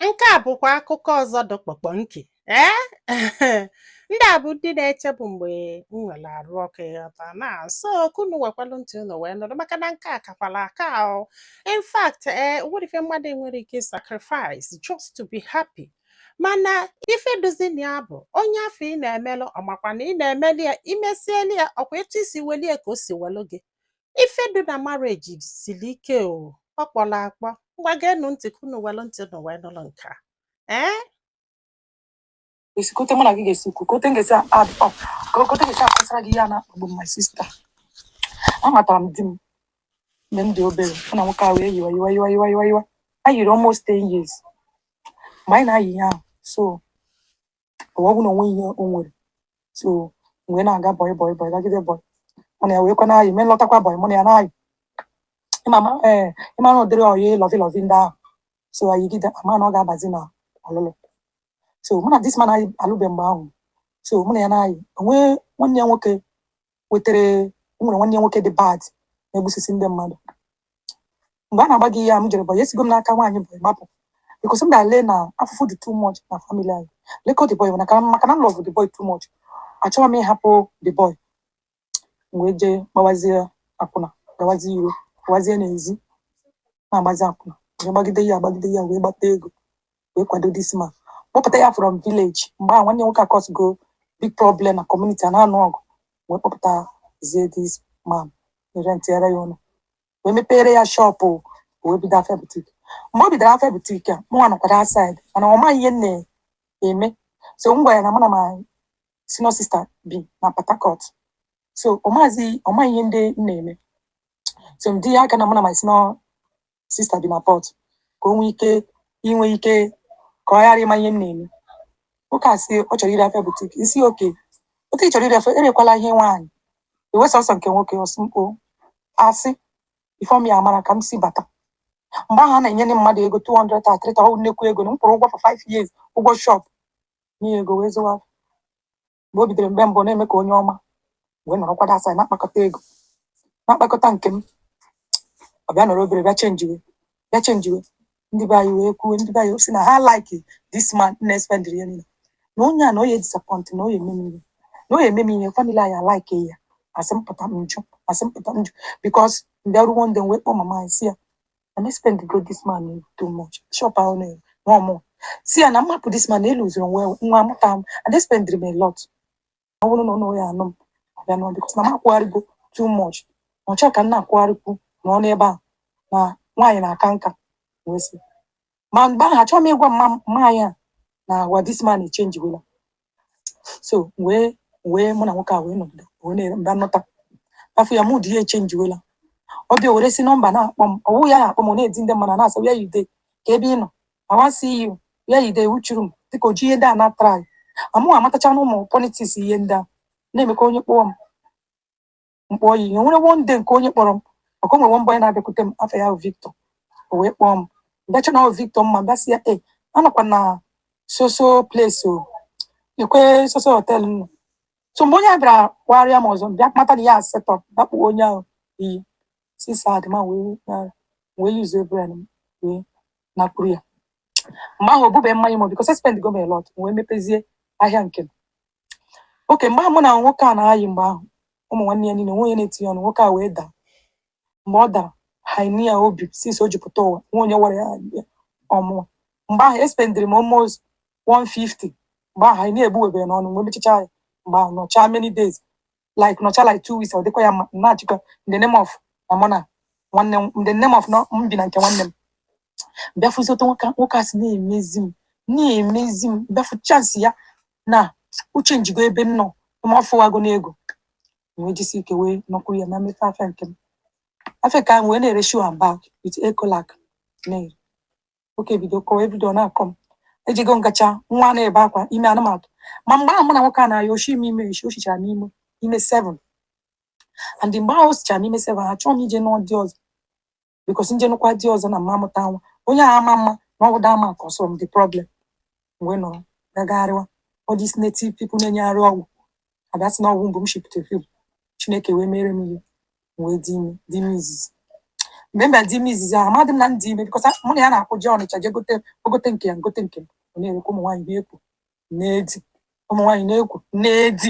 Nke a bụkwa akụkọ ọzọ dụ kpọkpọ nke ee ndị a bụ ndị na-eche bụ mgbe m nwere arụ ọkụ ịghọta na so ka unu wekwalụ ntị unu wee nụrụ maka na nke a kakwala aka ahụ in fact e nwere ife mmadụ nwere ike sacrifice just to be happy mana ife dụzị na ya bụ onye afụ ị na-emelụ ọ makwa na ị na-emeli ya i mesieli ya ọkwa etu i si weli ya ka o si welụ gị ife dị na marriage siri ike o ọ kpọrọ akpọ ngwa geenụ ntị ka unu welụ ntị unu wee nụrụ nke a ee Esi kote mụ na gị ga-esi kwu kote m ga-esi add up ka kote m ga-esi akọsara gị ihe a na-akpagbu m my sister amatara m di m mgbe m dị obere mụ na nwoke ahụ eyiwa yiwa yiwa yiwa yiwa yiwa anyị yiri almost 10 years mgbe anyị na-ayị ihe ahụ so ọ bụghị na o nwe ihe o nwere so mgbe na-aga boy boy boy gagide boy mụ na ya wee ka na-ayị mee lọtakwa boy mụ na ya na-ayị ị mama ee ị mara ụdịrị ọyị lovey lovey ndị ahụ so ayịgide ama na ọ ga-abazi na ọlụlụ so mụ na this man anyị alụbe mgbe ahụ so mụ na ya na-ayị o nwe nwanne ya nwoke wetere o nwere nwanne ya nwoke dị bad na-egbusisi ndị mmadụ mgbe a na-agwa gị ihe a m jere boy esigo m n'aka nwaanyị boy gbapụ because m bịa le na afụfụ dị too much na family anyị like the boy maka maka na m love the boy too much achọghị m ịhapụ the boy m wee jee gbawazie akwụna gawazie iro gawazie n'ezi na-agbazi akwụna wee gbagide ya agbagide ya wee gbata ego wee kwado this man kpọpụta ya from village mgbe ahụ nwanne nwoke acausego big problem na community a na-anụ ọgụ wee kpọpụtazie this man rentiere ya ụlọ wee mepere ya shop wee bido afịa boutique mgbe o bidoro afịa boutique a mụnwa nọkwara outside mana ọ maghị ihe m na-eme so m gwara ya na mụ na my senior sister bi na Port Harcourt so ọ maghịzi ọ maghị ihe ndị m na-eme so ọ dị ya ka na mụ na my senior sister bi na Port ka o nwee ike inwe ike ka ọ ghara ịma ihe m na-eme nwoke a sị ọ chọrọ ire afịa boutique m sị okay otu ị chọrọ ire afịa erekwala ihe nwaanyị rewe sọsọ nke nwoke ọ sị m kpọ asị ifeọm ya mara ka m si bata mgbe ahụ a na-enye ndị mmadụ ego 200 a 300 ọ nnekwu ego na m kwụrụ ụgwọ for 5 years ụgwọ shop nye ego wee zụwa mgbe o bidoro mgbe mbụ na-eme ka onye ọma wee nọrọkwa outside na-akpakọta ego na-akpakọta nke m ọ bịa nọrọ obere bịa chenjiwe bịa chenjiwe ndị be anyị wee kwuo ndị be anyị sị na ha like this man na-espendịrị ihe niile na onye a na ọ ya disappoint na ọ ya-eme m ihe na ọ ya-eme m ihe family anyị alike ya a sị m pụta m jụ a sị m pụta m jụ because bịa ruo one day wee kpọọ mama anyị sị ya na m espendigo this man no too much shop ahụ na ọ mụ sị ya na m hapụ this man eluziri onwe ya, nwa amụta m and they spend me a lot ọ bụrụ na ọ nọ ya anụ m abịa nọ because na m akwụgharịgo too much na achọghị ka m na-akwụgharịkwu na ọ n'ebe a na nwaanyị na-aka nka wee sị ma mgbe ahụ achọghị m ịgwa mama ya na agwa this man echenjiwela so wee wee mụ na nwoke a wee nọgide wee na-ere mba nnọta afọ ya mood ya echenjiwela ọ bịa were si nọmba na-akpọ m ọ wụ ya na-akpọ m ọ na-edi ndị mmadụ na-asị where you dey kee ebe ị nọ I wan see you where you dey wuchuru m dịka o ji ihe ndị a na-atara m ahụ amatacha na ụmụ politiks ihe ndị a na-eme ka onye kpọọ m m kpọọ ya e nwere one day nke onye kpọrọ m maka o nwere one boy na-abịakwute m afa ya bụ Victor o wee kpọọ m bịa chee na ọ bụ Victor mụ abịa sị ya e anọkwa na soso place o kwuo soso hotel nọ so mgbe onye a bịara kpọgharịa m ọzọ m bịa mata na ya asetọ dakpụ onye ahụ iyi si sad ma wee na- wee yuzuo brain m wee nakwuru ya mgbe ahụ obube mmanya m because espendigo m a lot m wee mepezie ahịa nke m okay mgbe ahụ mụ na nwoke a na-ayị mgbe ahụ ụmụ nwanne ya niile nwe onye na-etinye ọnụ nwoke a wee daa mgbe ọ dara hernia o bu since o ji pụta ụwa nwe onye wara ya ya ọ mụwa mgbe ahụ espendiri m almost 150 mgbe ahụ hernia egbuwebere n'ọnụ wee mechacha ya mgbe ahụ nọchaa many days like nọcha like two weeks ọ dịkwa ya mma na-achịkọ in the name of na mụ na nwanne m in the name of na m bi na nke nwanne m bịa fụzi otu nwoke nwoke a si na-emezi m na-emezi m bịa fụ chansị ya na o chenjigo ebe m nọ ma ọ fụwago n'ego wee jisi ike wee nọkwuru ya na m mepe afịa nke m afịa ka m wee na-ere shoe and bag with ecolac na-ere okay o bido kọwa everyday ọ na-akọ m ejego ngacha nwa na-ebe akwa ime ana m atụ ma mgbe ahụ mụ na nwoke a na-ayị o shi m ime eshi o shichara m ime ime seven and mgbe ahụ o sichara m ime seven achọghị m ije nụọ di ọzọ because m je nụkwa di ọzọ na m ma amụta nwa onye a ama ama na ọ wụ that man cause m the problem wee nọrọ gagharịwa all these native people na-enyegharị ọgwụ a bịa sị na ọ wụ womb m shipụtara fim Chineke wee mere m ihe wee dị ime dị ime izizi mgbe m bịara dị ime izizi ahụ amadị m na m dị ime because mụ na ya na-akwụ jee Ọnịcha jee gote o gote nke ya m gote nke m ọ na-erekwa ụmụ nwaanyị na-ekwu na-edi ụmụ nwaanyị na-ekwu na-edi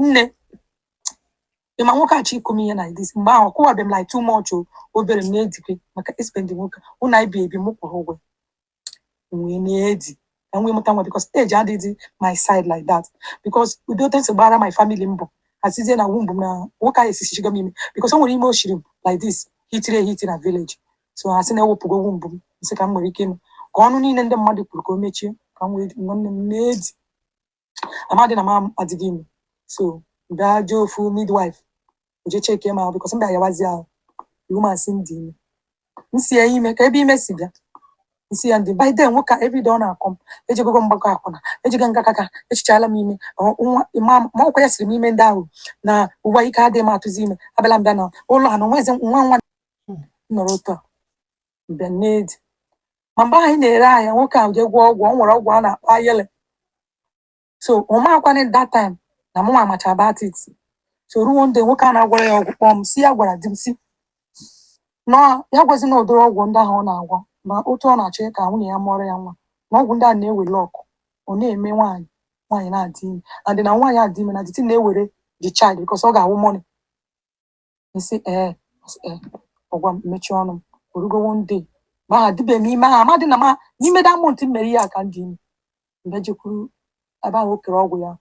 nne ị ma nwoke achọ ịkụ m ihe na dis mgbe ahụ ọ kụwabe m like too much o obere m na-edikwe maka ị spend nwoke ụnọ anyị bi ebi m kwụrụ ụgwọ m wee na-edi ka m wee mụta nwa because age adịghị my side like that because ụdị otu e si gbara my family mbụ a sizie na womb m na nwoke ahụ esisichago m ime because o nwere ime o shiri m like this hitiri ehiti na village so ha sị na ewepugo womb m m sị ka m nwere ike ịnụ ka ọnụ niile ndị mmadụ kwuru ka o mechie ka m wee nwanne m na-edi amadị na m adịghị ime so m bịa jee ofu midwife o je cheke m ahụ because m bịa yawazi ahụ the woman sị m dị ime m sị ya ime kee ebe ime si bịa m sị ya ndị by then nwoke a everyday ọ na-akọ m ejego m gbakọ akwụna ejego nga kaka eshichaala m ime ma ọ kwa ya siri m ime ndị ahụ na ụwa ike adịghị m atụzi ime abịala m bịa na ụlọ ha na o nwezi nwa nwa nọrọ otu a m bịa na-edi ma mgbe anyị na-ere ahịa nwoke ahụ jee gwọọ ọgwụ ọ nwere ọgwụ a na-akpọ awele so ọ makwanị that time na mụnwa macha about it so ruo one day nwoke a na-agwọrọ ya ọgwụ kpọọ m sị ya gwara di m sị na ya gwazi na ụdịrị ọgwụ ndị ahụ ọ na-agwọ na otu ọ na-achọ ka nwunye ya mụọrọ ya nwa na ọgwụ ndị a na-ewere ọkụ ọ na-eme nwaanyị nwaanyị na-adị ime and na nwaanyị adị ime na the thing na-ewere the child because ọ ga-awụ money m sị ee m sị ee ọ gwa m mechie ọnụ m o rugo one day ma ha dịbe m ime ha amadị na ma n'ime that month m mere ihe a ka m dị ime m bịa jekwuru ebe ahụ o kere ọgwụ ya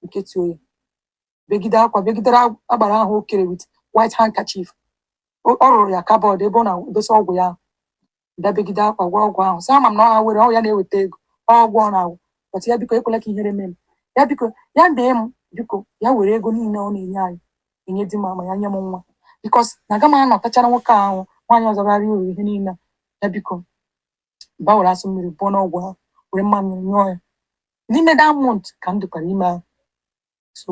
m ketuo ya begide akwa begidere ag- agbara ahụ o kere with white handkerchief O- ọ rụrụ ya cupboard ebe ọ na-edosa ọgwụ ya ahụ. m dabegide akwa gwa ọgwụ ahụ sị ama m na ọ awele ọ ya na-eweta ego ọ ọgwụ ọ na-agwọ but ya biko ekwela ka ihere mee m ya biko ya bee m biko ya were ego niile ọ na-enye anyị enye di m ma ya nye m nwa because na aga m anọtachara nwoke ahụ nwaanyị ọzọ bara uru ihe niile a. ya biko m bịa were asụ mmiri bụọ n'ọgwụ ahụ were mmamịrị nyụọ ya n'ime that month ka m dịkwara ime ahụ so